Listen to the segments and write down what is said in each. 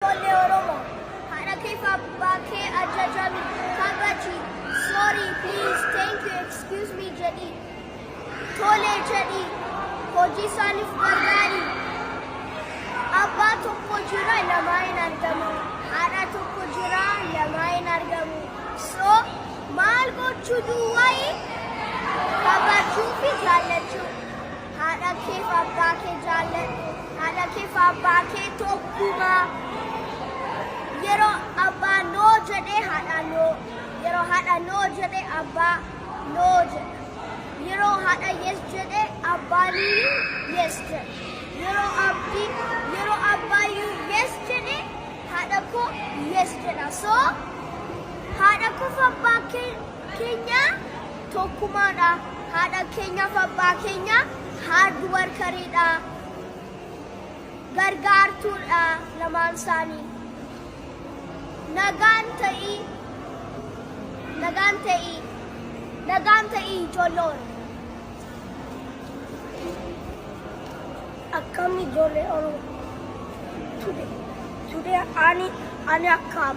Ijoollee Oromoo haadha keef abbaa kee ajajami kabaji sorry please thank you excuse me jedhi tole jedhi hojii isaaniif gargaari abbaa tokko jira lamaa hin argamu haadha tokko jira lamaa hin argamu so maal gochuu duwwaayi kabajuu fi jaallachuu Haadha keef abbaa kee jaalladhu. Haadha keef abbaa kee tokkumaa. Yeroo abbaa noo jedhee haadha noo. Yeroo haadha noo jedhee abbaa noo jedha. Yeroo haadha yes jedhee abbaaniyyuu yes jedha. Yeroo abbi yeroo abbaayyuu yes jedhee haadha koo yes jedha. So haadha koof abbaa kee keenya tokkumaadha. Haadha keenyaaf abbaa keenya hard workeridha. Gargaartuudha lamaan isaanii. Nagaan ta'ii. Nagaan ta'ii. Nagaan ta'ii ijoollee Oromoo. akkam ijoollee Oromoo. Today, today ani ani akkam.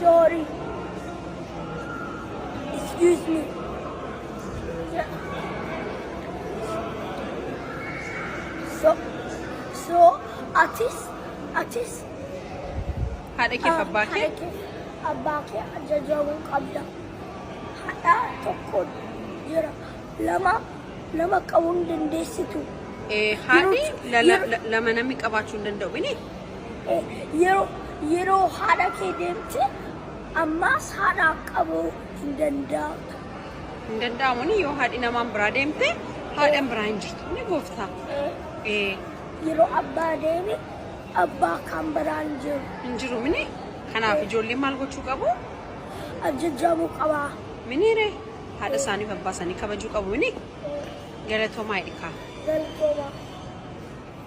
Sorry. Excuse me. So, so atis, atis Haadha keef abbaa kee haadha kee abbaa kee ajajamuu qabda. Haadha tokko jira. Lama lama qabuu hin dandeessitu. eh, haadhi Yeroo- la- la- yeroo- la- lama namni qabaachuu hin danda'u. Bini? Yeroo yeroo haadha kee deemte ammaas haadhaaf qabuu hin danda'amtu. Hin danda'amu ni yoo haadhi namaan biraa deemte haadhan biraa hin jirtu ni gooftaa. Ee Yeroo abbaa deeme abbaa kan biraan jiru hin jiru mini kanaaf ijoolleen maal gochuu qabu? ajajamuu qaba. Miniire haadha isaaniif abbaa isaanii kabajuu qabu mini galatoomaa ilkaa. Galtooma.